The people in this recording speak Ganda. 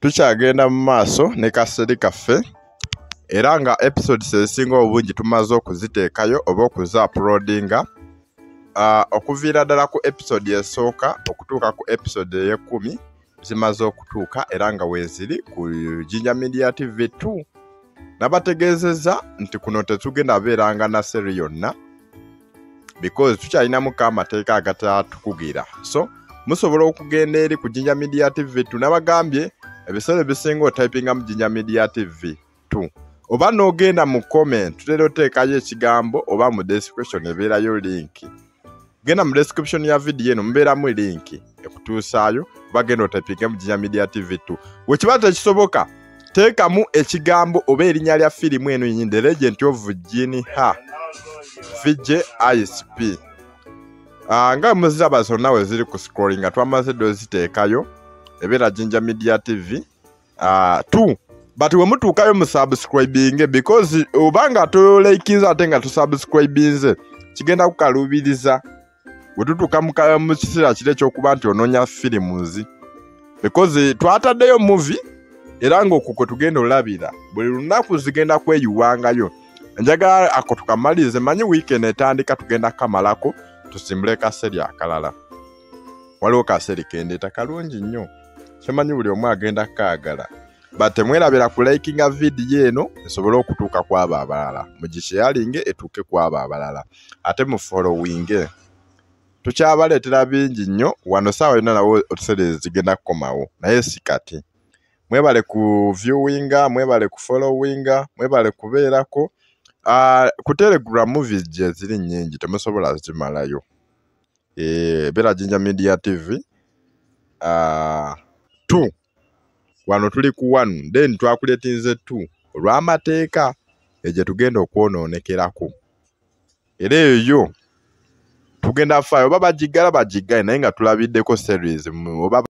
tukyagenda mu maaso ne kaseri kaffe era nga episodes ezisinga obungi tumaze okuziteekayo oba okuzaapulodinga uh, okuviira ddala ku episode esooka okutuuka ku episode ey'ekkumi zimaze okutuuka era nga weeziri ku jinja media tv 2 nabategeezezza nti kuno tetugenda beeranga na seri yonna because tukyalinamu ko amateeka agatatukugira so musobola okugenda eri ku jinja media tv t nabagambye ebiseera ebisinga otypinga mu jinja media tv t oba n'ogenda mu comment tutera oteekayo ekigambo oba mu description ebeerayo linki genda mu description ya vidiyo eno mubeeramu linki ekutuusaayo oba genda otypinge mu jinja media tv t wekiba tekisoboka teekamu ekigambo oba erinnya lya firimu eno yenyi the legend of jini ha vj isp ah, nga muziraba zonna we ziri ku scrolling nga twamaze dde oziteekayo ebeera jinja media tv ah, t but we mutuukayo mu subscribinge because oba nga tulekinze ate nga tusubscribinze kigenda kukaluubiriza bwe tutuuka mu ka- mu kiseera kiri ekyokuba nti onoonya firimuzi because twataddeyo muvi era ng'okwo kwe tugenda olabira buli lunaku zigenda kweyiwangayo njagala ako tukamalirize manyi weekend etandika tugenda kamalako tusimbule kaseri akalala waliwo kaseri kendeeta kalungi nnyo kyemanyi buli omu agenda kaagala but temwerabira ku likinga vidiyo eno esobole okutuuka ku abo abalala mugisheyalinge etuuke ku abo abalala ate mu followinge tukyabaleetera bingi nnyo wano saawa yonna nawe otusereezi zigenda kukomawo naye si kati mwebale ku viewinga mwebale ku followinga mwebale kubeerako ah, ku telegram movies gye ziri nnyingi temusobola zimalayo eh, beera jinja media tv uh, ah, two wano tuli ku one then twakuletinze two olw'amateeka egyo tugenda okwonoonekerako era eyo tugenda faayo oba bagiggala bagiggaye naye nga tulabiddeko series oba